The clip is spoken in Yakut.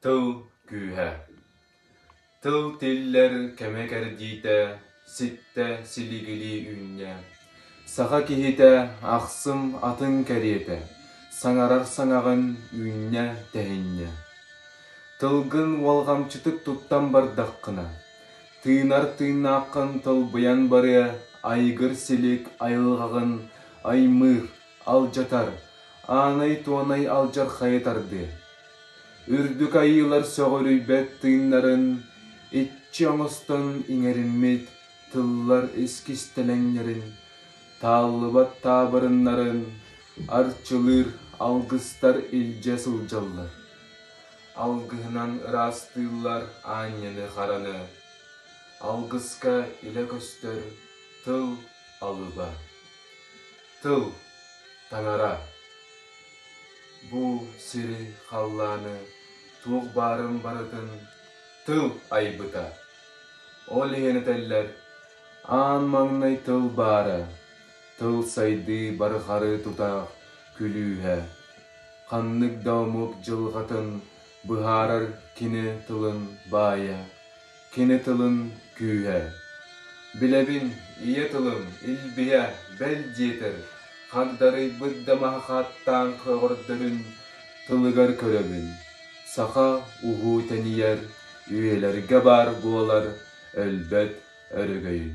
Тыл күүһэ Тыл тиллэр кэмэ кэрдиитэ Ситтэ силигилии үүннэ Саха киһитэ ахсым атын кэриэтэ Саҥарар саҥаҕын үүннэ тэһиннэ Тылгын уолҕамчытык туттан бардаххына Тыынар тыыннааххын тылбыйан барыа Айгыр силик айылҕаҕын аймыыр алдьатар, аанай-туонай алдьархайы тардыы. Үрдүк айыылар сөҕүрүйбэт тыыннарын иччи оҥостон иҥэриммит тыллар искистэлэҥнэрин, тааллыбат таабырыннарын арчылыыр алгыстар илдьэ сылдьаллар. Алгыһынан ыраастыыллар аанньаны-хараны, алгыска илэ көстөр тыл алыба. Тыл таҥара бу сири халлааны туох баарын барытын тыл айбыта. Ол иһин этэллэр аан маҥнай тыл баара, тыл сайдыы бары харыы тутаах күлүүһэ. Ханнык да омук дьылҕатын быһаарар кини тылын баайа. Кини тылын күүһэ. Билэбин, ийэ тылым илбийэ, бэл диэтэр, хагдарыйбыт да маһы хааттаан көҕөрдөрүн тылыгар көрөбүн. Саха уһуу тэнийэр үйэлэргэ баар буолар өлбөт өрөгөйүн.